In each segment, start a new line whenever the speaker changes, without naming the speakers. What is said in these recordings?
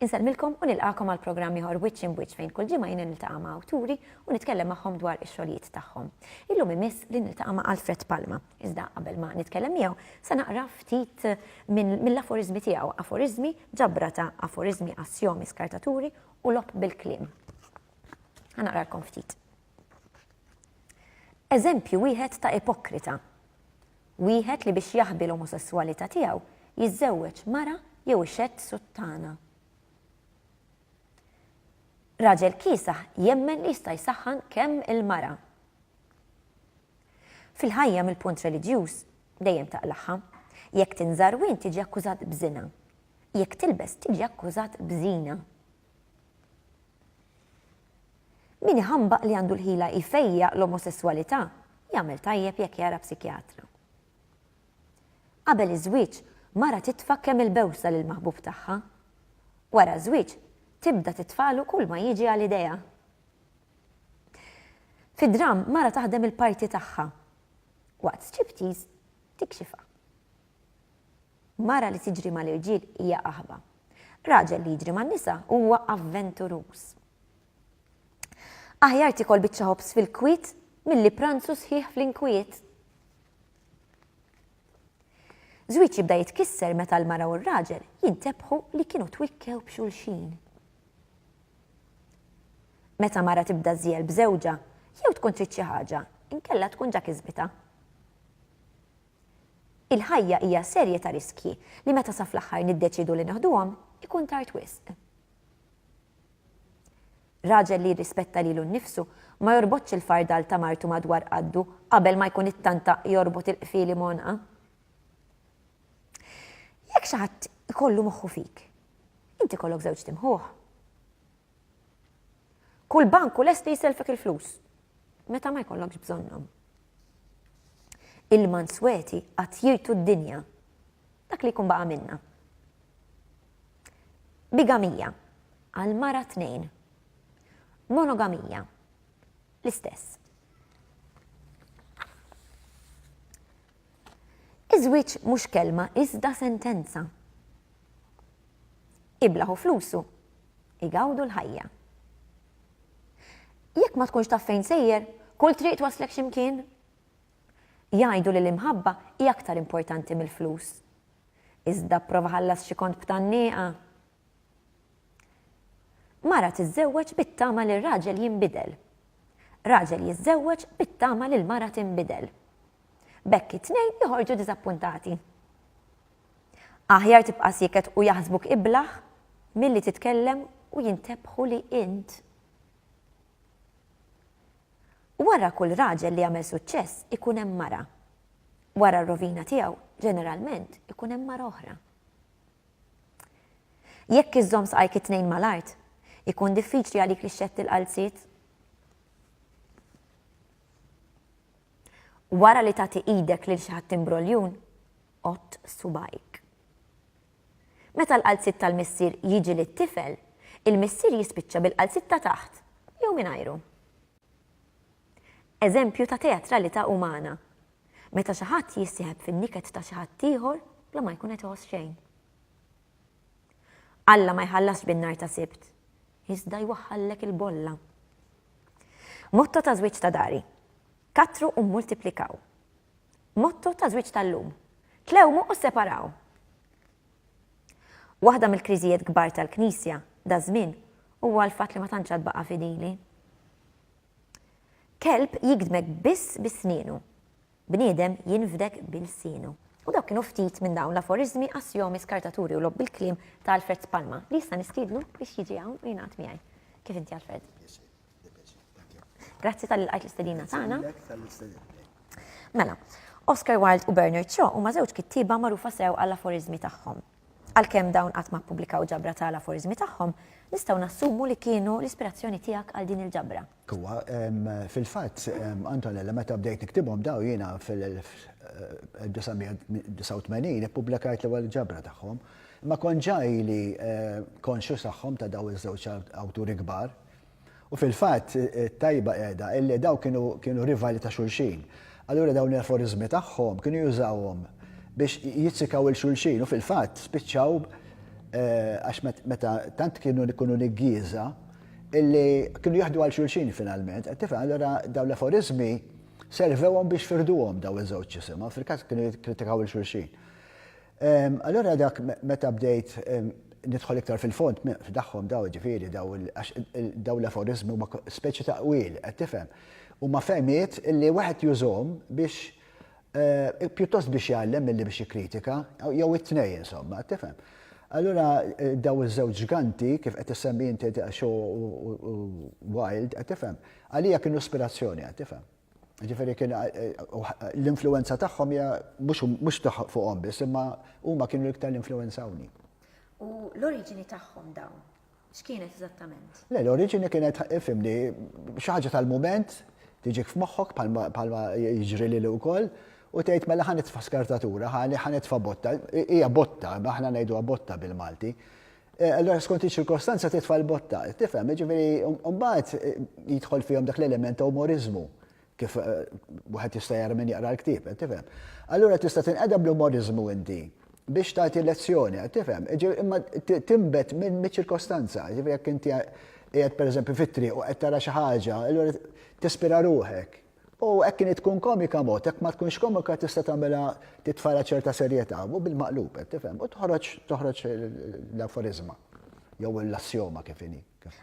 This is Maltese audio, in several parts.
Insellmilkom u nilqakom għal programm ieħor Wiċċ in Wiċċ fejn kull ġimgħa jiena niltaqa' ma' awturi u nitkellem magħhom dwar ix-xogħlijiet tagħhom. Illum imiss li niltaqa' ma' Alfred Palma. Iżda qabel ma nitkellem miegħu, se naqra ftit mill-aforiżmi tiegħu, aforiżmi, ġabra ta' aforiżmi, assjomi, skartaturi u logħob bil-kliem. Ħa naqralkom ftit. Eżempju wieħed ta' ipokrita. Wieħed li biex jaħbi l-omosesswalità tiegħu jiżżewweġ mara jew ixedd suttana. Raġel kiesaħ jemmen li jista' jsaħħan kemm il-mara. Fil-ħajja mill-punt reliġjuż dejjem taqlagħha. Jekk tinżar wien tiġi akkużat b'żina. Jekk tilbes tiġi akkużat b'żina. Min iħambaq li għandu l-ħila jfejjaq l-omosesswalità jagħmel tajjeb jekk jara psikjatra. Qabel iż-żwieġ mara titfa' kemm il-bewsa lill-maħbub tagħha. Wara ż-żwieġ tibda titfalu kull ma jiġi għal idejha. Fid-dramm, mara taħdem il-parti tagħha, waqt striptease tikxifha. Mara li tiġri mal-irġiel hija qaħba. Raġel li jiġri man-nisa huwa avventuruż. Aħjar tikol biċċa ħobż fil-kwiet milli pranzu sħiħ fl-inkwiet. Żwieġ jibda jitkisser meta l-mara u r-raġel jintebħu li kienu twikkew b'xulxin. Meta mara tibda żżiegħel b'żewġha, jew tkun trid xi ħaġa, inkella tkun ġa kisbitha. Il-ħajja hija serje ta' riskji li meta sa fl-aħħar niddeċiedu li neħduhom, ikun tard wisq. Raġel li jirrispetta lilu nnifsu ma jorbotx il-fardal ta' martu madwar qaddu qabel ma jkun ittanta jorbot il-qfieli m'għonqha. Jekk xi ħadd ikollu moħħu fik, Inti jkollok żewġt imħuħ. Kull bank u lesti jiselfek il-flus. Meta ma jkollokx bżonnhom. Il-mansweti qatt jirtu d-dinja. Dak li jkun baqa' minna. Bigamija għal mara tnejn. Monogamija l-istess. Iż-żwieġ mhux kelma iżda sentenza. Iblah u flusu, igawdu l-ħajja. Jekk ma tkunx taf fejn sejjer, kull triq twasslek xi mkien. Jgħidu li l-imħabba hi aktar importanti mill-flus. Iżda pprova ħallas xi kont b'tannieqa. Mara tiżżewweġ bit-tama li r-raġel jinbidel. Raġel jiżżewweġ bit-tama li l-mara tinbidel. B'hekk it-tnejn joħorġu diżappuntati. Aħjar tibqa' sieket u jaħsbuk iblah milli titkellem u jintebħu li int. Wara kull raġel li jagħmel suċċess ikun hemm mara. Wara r-rovina tiegħu ġeneralment ikun hemm mara oħra. Jekk iżżomm saqajk it-tnejn mal-art, ikun diffiċli għalik li xxett il-qalziet. Wara li tagħti idek lil xi ħadd imbroljun, għodd subgħajk. Meta l-qalziet tal-missier jiġi lit-tifel, il-missier jispiċċa bil-qalziet ta' taħt jew mingħajru. Eżempju ta' teatralità umana, meta xi ħadd jissieħeb fin-niket ta' xi ħadd ieħor bla ma jkun qed iħoss xejn. Alla ma jħallasx bin-nhar ta' Sibt, iżda jwaħħallek il-bolla. Motto ta' żwieġ ta' dari, Kattru u mmultiplikaw. Motto ta' żwieġ tal-lum, Tlewmu u sseparaw. Waħda mill-kriżijiet kbar tal-Knisja daż-żmien huwa l-fatt li ma tantx għad baqa' fidili. Kelb jigdmek biss bi snienu. Bniedem jinfdek bi lsienu. U dawk kienu ftit minn dawn l-aforiżmi, assjomi, skartaturi u logħob bil-kliem ta' Alfred Spalma, li issa nistiednu biex jiġi hawn u jingħaqad miegħi. Kif inti Alfred? Grazzi talli lqajt l-istedina tagħna. Mela, Oscar Wilde u Bernard Shaw huma żewġ kittieba magħrufa sew għall-aforiżmi tagħhom. Għalkemm dawn qatt ma ppubblikaw ġabra ta' l-aforiżmi tagħhom, nistgħu nassumu li kienu l-ispirazzjoni tiegħek għal din il-ġabra. Huwa, fil-fatt, Antonella, meta bdejt niktibhom dawn jiena fil-1989 ippubblikajt l-ewwel ġabra tagħhom, imma kont ġa ili konxju tagħhom ta' dawn iż-żewġ awturi kbar. U fil-fatt, it-tajba qiegħda illi dawn kienu kienu rivali ta' xulxin. Allura dawn l-aforiżmi tagħhom kienu jużawhom biex jizzikaw 'il xulxin u fil-fatt spiċċaw għax meta tant kienu jkunu niggieża, illi kienu jaħdu għal xulxin finalment, qed tifhem allura dawn l-aforiżmi servewhom biex firduhom daw iż-żewġ isimha, fil-każ kienu jikkritikaw il xulxin. Ehm, allura dak meta bdejt ehm, nidħol iktar fil-fond f'daħħom daw ġifieri daw daw l-aforizmi huma speċi ta' qwil qed tifhem. Huma fehmiet illi wieħed jużhom biex Pjuttost biex jgħallem milli biex jikkritika, jew it-tnejn insomma, tifhem. Allura daw iż-żewġ ġganti kif qed issemmi inti Shaw u Wilde, qed tifhem, għalija kienu ispirazzjoni, qed tifhem. Ġifieri kien l-influwenza tagħhom hija mhux fuqhom biss, imma huma kienu l-iktar li influwenzawni. U l-oriġini tagħhom dawn? X'kienet eżattament? Le, l-oriġini kienet, fimni, xi ħaġa tal-mument tiġik f'moħħok bħalma jiġri lili wkoll u tgħid mela ħa nitfa' skartatura, ħa nitfa' botta, hija botta, aħna ngħiduha botta bil-Malti. E, allora skont iċ-ċirkostanza titfa' l-botta, tifhem, jiġifieri mbagħad e, jidħol fihom dak l-element ta' umorizmu kif wieħed jista' jara min jaqra l-ktieb, qed tifhem? Allura tista' tinqeda bl-umoriżmu inti biex tagħti lezzjoni, qed tifhem? Imma tinbet miċ-ċirkostanza, jiġifieri jekk inti qiegħed pereżempju fit-triq u qed tara xi ħaġa, allura tispira ruħek. U hekk kien tkun komika mod, hekk ma tkunx komika tista' tagħmilha titfala ċerta serjetà, u bil-maqlub, qed tifhem? U toħroġ toħroġ l-aforiżma jew l-assjoma kif inhi.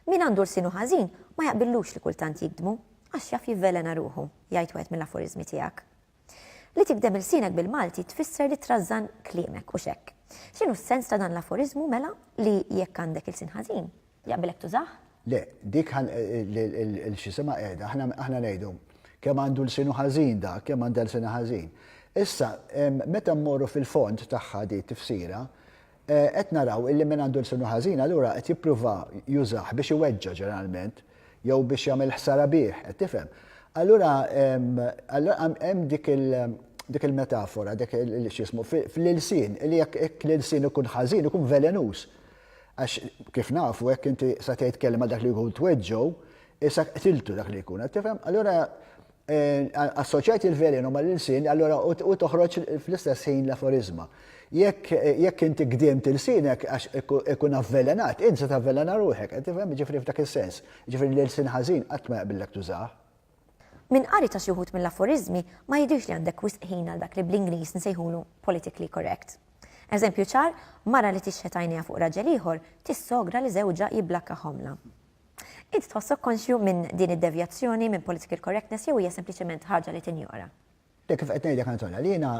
Min għandu lsienu ħażin ma jaqbillux li kultant jigdmu. Għax jaf jivvelena ruħu, jgħid wieħed mill-aforiżmi tiegħek. Li tigdem ilsienek bil-Malti tfisser li trażżan kliemek u x'hekk. X'inhu s-sens ta' dan l-aforiżmu mela li jekk għandek ilsien ħażin, jaqbilek tużah? Le, dik il-x'isimha qiegħda, aħna ngħidu, kemm għandu lsienu ħażin dak, kemm għandha lsienha ħażin. Issa, meta mmorru fil-fond tagħha di t-tifsira, Qed naraw illi min għandu lsnu ħażin allura qed jipprova jużah biex iweġġa' ġeneralment jew biex jagħmel ħsara bih, qed tifhem? Allura hemm dik il dik il-metafora, dik il x'jismu, fl-ilsien, illi jekk jekk l-ilsien ikun ħażin ikun velenuż. Għax kif nafu jekk inti sa tgħid kelma dak li jkun tweġġgħu, issa qtiltu dak li jkun, qed tifhem? Allura Assoċjajt il-velenu mal-ilsien, allura u toħroġ fl-istess ħin l-aforiżma. Jekk inti gdimt ilsienek għax ikun avvelenat, int se tavvelena ruħek, qed tifhem? Ġifieri f'dak is-sens. Ġifieri l-ilsien ħażin qatt ma jaqbillek tużah. Minn qari ta' xi wħud mill-aforiżmi ma jidhirx li għandek wisq ħin għal dak li bl-Ingliż nsejħulu politically correct. Eżempju ċar, mara li tixħet għajnejha fuq raġel ieħor tissogra li żewġha jibblakka ħomla. Int tħossok konxju minn din id-devjazzjoni minn political correctness jew hija sempliċement ħaġa li tinjora? Hekk kif qed ngħidlek Antonella, jiena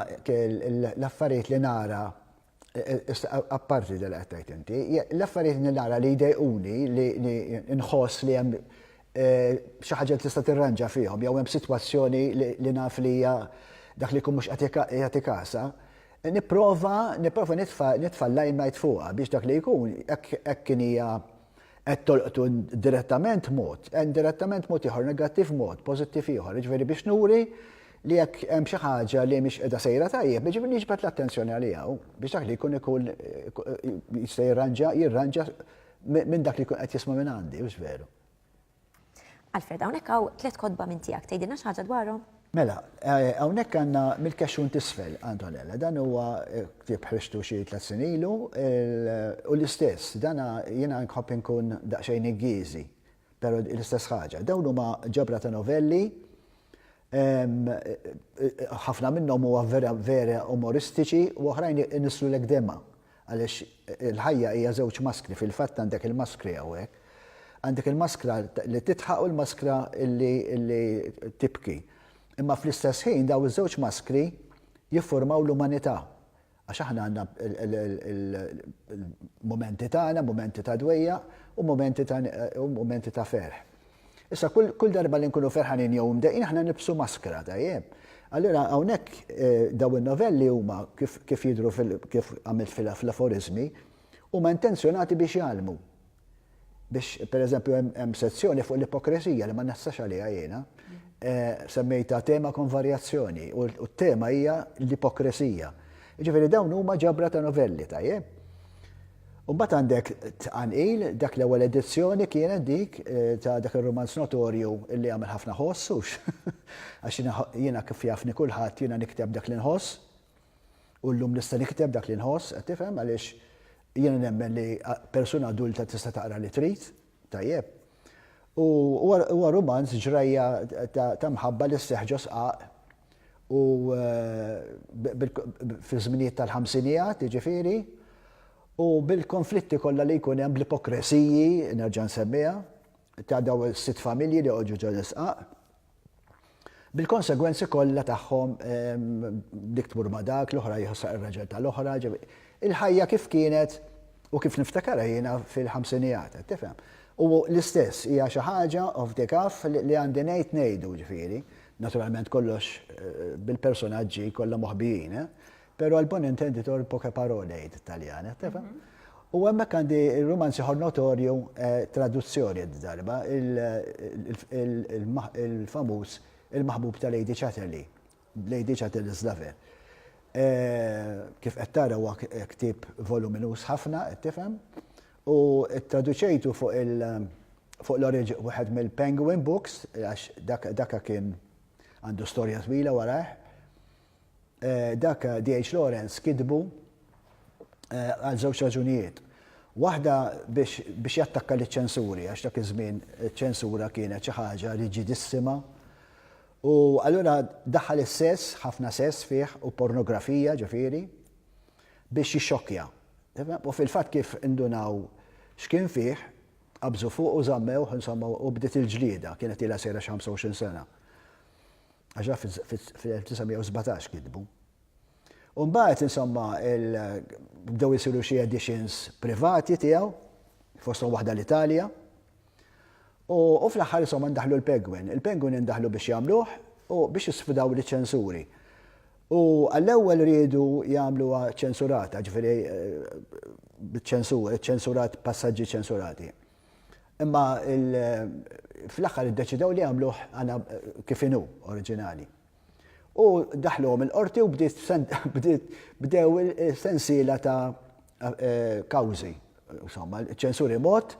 l-affarijiet li nara, apparti dak li qed tgħid inti, l-affarijiet li nara li jdejquni, li nħoss li hemm xi ħaġa li tista' tirranġa fihom jew hemm sitwazzjoni li naf li hija dak li jkun mhux qed jagħti kasha, nipprova nitfa' l-limelight fuqha biex dak li jkun hekk kif hija qed tolqtu direttament mod, eh, indirettament mod ieħor, negattiv mod, pożittiv ieħor, jiġifieri biex nuri li jekk hemm xi ħaġa li mhix qiegħda sejra tajjeb, jiġifieri niġbed l-attenzjoni għaliha biex dak li jkun ikun jista' jirranġa jirranġa minn dak li jkun qed jisma' minn għandi, hux veru. Alfred, hawnhekk hawn tliet kotba minn tiegħek, tgħidilna xi ħaġa dwarhom? Mela, hawnhekk għandna mill-kexxun t'isfel, Antonella. Dan huwa ktieb ħriġtu xi tliet snin ilu u l-istess, dan jiena nħobb inkun daqsxejn iggiezi, però l-istess ħaġa. Dawn huma ġabra ta' novelli, ħafna minnhom huwa vera umoristiċi u oħrajn inissrulek demgħa. Għaliex il-ħajja hija żewġ maskri, fil-fatt għandek il-maskri hawnhekk. Għandek il-maskra li tidħaq u l-maskra li tibki. Imma fl-istess ħin dawn iż-żewġ maskri jiffurmaw l-umanità. Għax aħna għandna l-mumenti tagħna, mumenti ta' dwejjaq u mumenti ta' ferħ. Issa kull darba li nkunu ferħanin jew imdejqin aħna nibsu maskra, tajjeb. Allura hawnhekk eh, daw in-novelli huma kif jidhru kif għamilt fil-aforizmi huma intenzjonati biex jgħalmu. Biex pereżempju hemm sezzjoni fuq l-ipokresija li ma naħsax għaliha jiena, eh, semmejta tema kon varjazzjoni u t-tema hija l-ipokresija. Ġifieri dawn huma ġabra ta' novelli tajjeb. U mbagħad għandek tqanqil, dak l-ewwel edizzjoni kienet dik ta' dak ir-rumanz notorju li għamel ħafna ħoss, hux? Għax jiena kif jafni kulħadd jiena nikteb dak li nħoss, u llum nista' nikteb dak li nħoss, qed tifhem, għaliex jiena nemmen li persuna adulta tista' taqra li trid. Tajjeb. U huwa rumanz ġrajja ta' mħabba li sseħħ ġo sqaq u fi żminijiet tal-ħamsinijat, jiġifieri, u bil-konflitti kollha li jkun hemm bl-ipokresiji, nerġa' nsemmiha, ta' dawn is-sitt familji li għoġġu ġo l-isqaq. Bil-konsegwenzi kollha tagħhom, dik tmur ma' dak, l-oħra jħossha ir-raġel tal-oħra, il-ħajja kif kienet u kif niftakarha jiena fil-ħamsinijat, qed tifhem? U l-istess, hija xi ħaġa off the cuff li għandi ngħid ngħidu, ġifieri, naturalment kollox bil-personaġġi kollha moħbijin, eh? Pero l-bon intenditor poche parole jgħid it-Taljan, eh, tefa? Mhm. U hemmhekk għandi il-romanz ieħor notorju eh, traduzzjoni d-darba, il-famuż il-maħbub ta' Lady Chatterley, Lady Chatterley's Lover. Eh, kif qed tara huwa ktib voluminus ħafna, qed tifhem, u traduċejtu fuq il- fuq l-oriġi wieħed mill-Penguin Books, għax daka kien għandu storja twila warajh, dak DH Lawrence kitbu għal żewġ raġunijiet. Waħda biex jattakka liċ-ċensuri għax dak iż-żmien iċ-ċensura kienet xi ħaġa riġidissima u allura daħħal is-sess, ħafna sess fih u pornografija ġifieri biex jixxokkja. U fil-fatt kif indunaw x'kien fih, qabżu fuqu żammewh insomma u bdiet il-ġlieda, kienet ilha sejra xi 25 sena. Għax haf fil-1917 kitbu. U mbagħad insomma bdew isiru xi editions privati tiegħu, fosthom waħda l-Italja. U fl-aħħar insomma ndaħlu l-Penguin. Il-Penguin indaħlu biex jagħmluh u biex jisfidaw liċ-ċensuri. U għall-ewwel riedu jagħmluha ċensurata, ġifieri eh, ċensurat passaġġi ċensurati. Imma fl-aħħar iddeċidew li jagħmluh kif inhu oriġinali. U daħluhom il-qorti u bdew sensiela ta' eh, kawżi. Insomma, ċensuri mod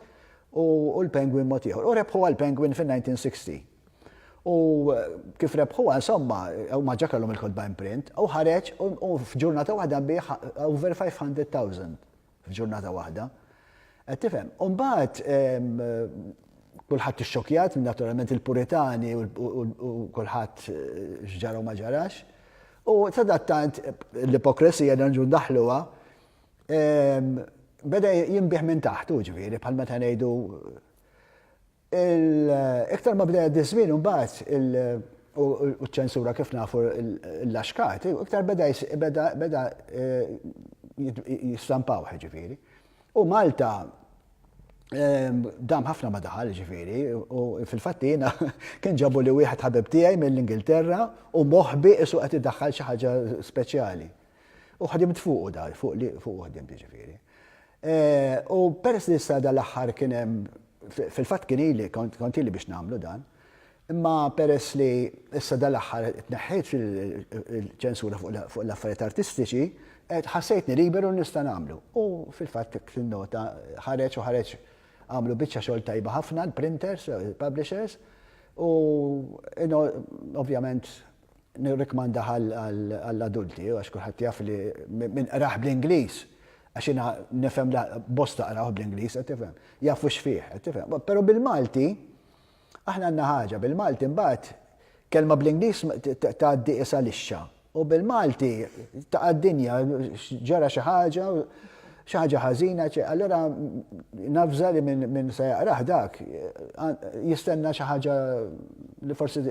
u l-Penguin mod ieħor. U rebħu għal-Penguin fin-1960. U eh, kif rebħu insomma, u maġġa kellhom il-kodba imprint, u ħareġ u f'ġurnata waħda bih over 500,000 F'ġurnata waħda. Qed tifhem? U mbagħad kulħadd ixxokjat, naturalment il-Puritani u kulħadd x'ġara u ma ġarax. U sadattant l-ipokresija li nġu ndaħluha beda jinbih minn taħt, u ġifieri bħal meta ngħidu Iktar ma bda jgħaddi ż-żmien imbagħad u ċ-ċensura kif nafu l-laxkat, iktar beda beda jistampaw ġifieri. U Malta dam ħafna ma daħal ġifieri u fil-fatt jiena kien ġabu li wieħed ħabib tiegħi mill-Ingilterra u moħbi qisu qed idaħħal xi ħaġa speċjali. U ħdimt fuqu dar, fuq li fuq ħdimt ġifieri. U peress li issa dan l-aħħar kien hemm, fil-fatt kien ili, kont ili biex nagħmlu dan, imma peress li issa dan l-aħħar tneħħejt il-ċensura fuq l-affarijiet artistiċi, ħassejtni liberu li nista' nagħmlu. U fil-fatt hekk tinnota ħareġ u ħareġ għamlu biċċa xogħol tajba ħafna l-printers, il-publishers, u ovvjament nirrikmanda għall-adulti għax kulħadd jaf li min qrah bl-Ingliż Għax jiena nifhem li bosta qrawh bl-Ingliż, qed tifhem. Jafu x'fih, qed tifhem. Però bil-Malti, aħna għandna ħaġa, bil-Malti mbagħad kelma bl-Ingliż tgħaddi isa lixxa. U bil-Malti ta' dinja ġara xi ħaġa, xi ħaġa ħażina, allura nafża li minn se jaqrah dak jistenna xi ħaġa li forsi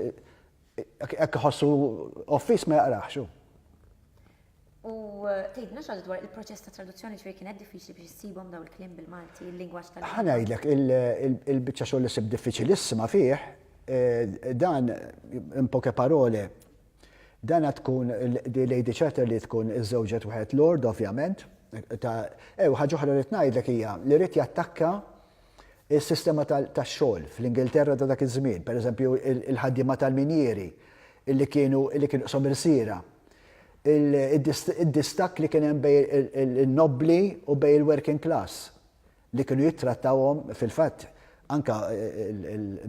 Jekk iħossu offis ma jaqraħx hu. U tgħidna x'għad dwar il-proċess ta' traduzzjoni ġifieri kienet diffiċli biex issibhom daw il-kliem bil-Malti, il-lingwaġġ tal Ħa ngħidlek, il-biċċa xogħol li sib diffiċilissima fih, eh, dan in poche parole, dan għad tkun di Lady Chatter li tkun iżżewġet wieħed Lord ovvjament, ta' ew ħaġa oħra li ngħidlek hija li rrid jattakka Is-sistema tax-xogħol fl-Ingilterra ta' dak iż-żmien, pereżempju l-ħaddiema tal-minjieri li kienu qshom irsiera, id-distakk li kien hemm bejn in-nobbli u bejn il-working class li kienu jittrattawhom, fil-fatt anke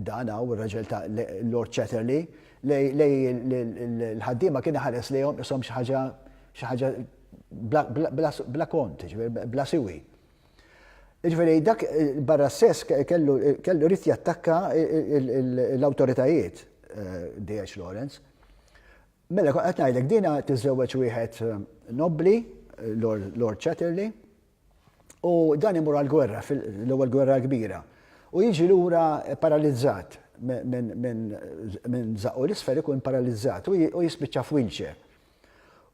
dan hawn ir-raġel ta' Lord Chatterley lill-ħaddiema kien iħares lejhom qishom xi ħaġa bla kont, jiġifieri bla siwi. Ġifieri dak barra s-sess kellu kellu rrid jattakka l-awtoritajiet DH Lawrence. Mela kont qed ngħidlek dina tiżżewweġ wieħed nobbli, Lord Chatterley, u dan imur għall-gwerra, l-ewwel gwerra kbira. U jiġi lura paralizzat minn żaqqu l-isfel ikun paralizzat u jispiċċa f'wheelchair.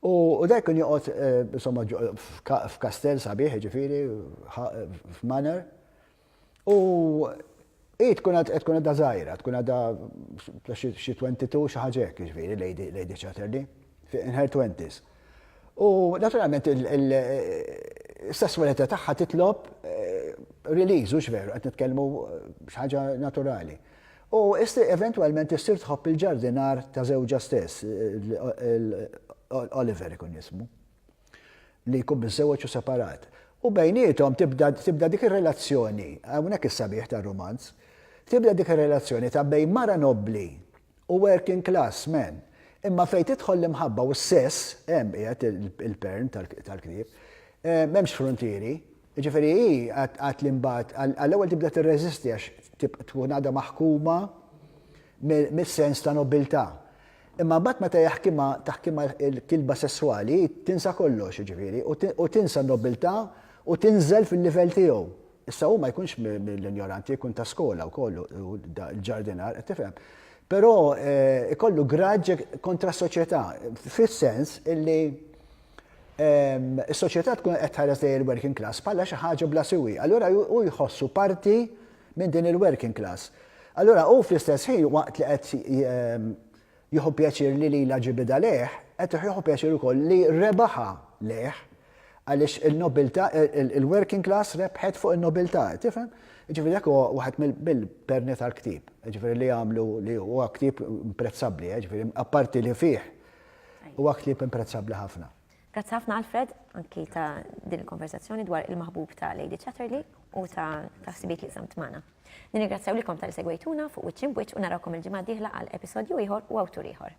U dak kien joqgħod insomma f'kastell sabiħ, ġifieri f'manor. U hi tkun qed tkun għadha żgħira, tkun għadha xi 22 xi ħaġa hekk, ġifieri Lady Chatterley, in her twenties. U naturalment is-sesswalità tagħha titlob release, hux veru, qed nitkellmu xi ħaġa naturali. U eventwalment issir tħobb il-ġardinar ta' żewġha stess, Oliver ikun jismu, li jkun miżżewweġ u separat. U bejniethom tibda dik ir-relazzjoni, hawnhekk is-sabiħ tar-rumanz, tibda dik ir-relazzjoni ta' bejn mara nobbli u working class man. Imma fejn tidħol l-imħabba u s-sess, hemm qiegħed il-pern tal-ktieb, m'hemmx fruntieri. Jiġifieri hi għad li mbagħad għall-ewwel tibda tirreżisti għax tkun għadha maħkuma mis-sens ta' nobbiltà. Imma mbagħad meta jaħkimha taħkimha l-kilba sesswali hi tinsa kollox jiġifieri u tinsa n-nobbiltà u tinżel fil-livell tiegħu. Issa hu ma jkunx mill-injoranti jkun ta' skola wkoll l-ġardinar qed tifhem. Però ikollu graġġ kontra s-soċjetà fis-sens illi is-soċjetà tkun qed tħares lejn il-working class bħala xi ħaġa bla siwi. Allura hu jħossu parti minn din il-working class. Allura hu fl-istess ħin waqt li qed jieħu pjaċir li lila ġibida lejh, qed jieħu pjaċir ukoll li rebaħa lejh għaliex il-nobilta, il-working class rebħet fuq il-nobilta, tifhem? Ġifiri, dak huwa waħed mill-perni tal-ktib, ġifiri li għamlu li huwa ktib imprezzabbli, ġifiri, apparti li fih Huwa ktieb imprezzabbli ħafna. Grazzi ħafna Alfred, anki ta' din il-konversazzjoni dwar il-maħbub ta' Lady Chatterley u ta' taħsibiet li samt magħna. Nirringrazzjaw likom tal-segwejtuna fuq wiċċ imbuċ u narawkom il-ġimgħa dieħla għal episodju ieħor u awtur ieħor.